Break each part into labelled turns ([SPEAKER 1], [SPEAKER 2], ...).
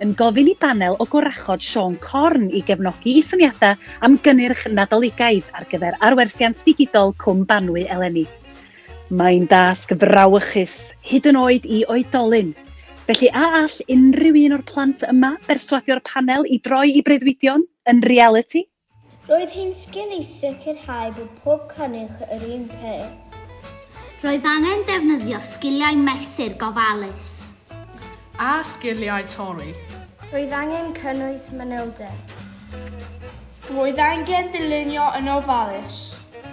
[SPEAKER 1] yn gofyn i banel o gwrachod Siôn Corn i gefnogi i syniadau am gynnyrch Nadoligaidd ar gyfer arwerthiant digidol Cwm Banwy eleni. Mae'n dasg frawychus, hyd yn oed i oedolyn. Felly a all unrhyw un o'r plant yma berswadio'r panel i droi i breuddwydion yn realiti? Roedd hi'n sgil i sicrhau bod pob cynnig yr un peth. Roedd angen defnyddio sgiliau mesur gofalus. A sgiliau torri. Roedd angen cynnwys manylder. Roedd angen dylunio yn ofalus.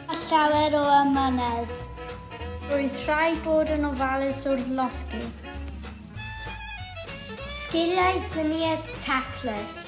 [SPEAKER 1] A llawer o amynedd. Roedd rhaid bod yn ofalus wrth losgi. Sgiliau gwiniedd taclus.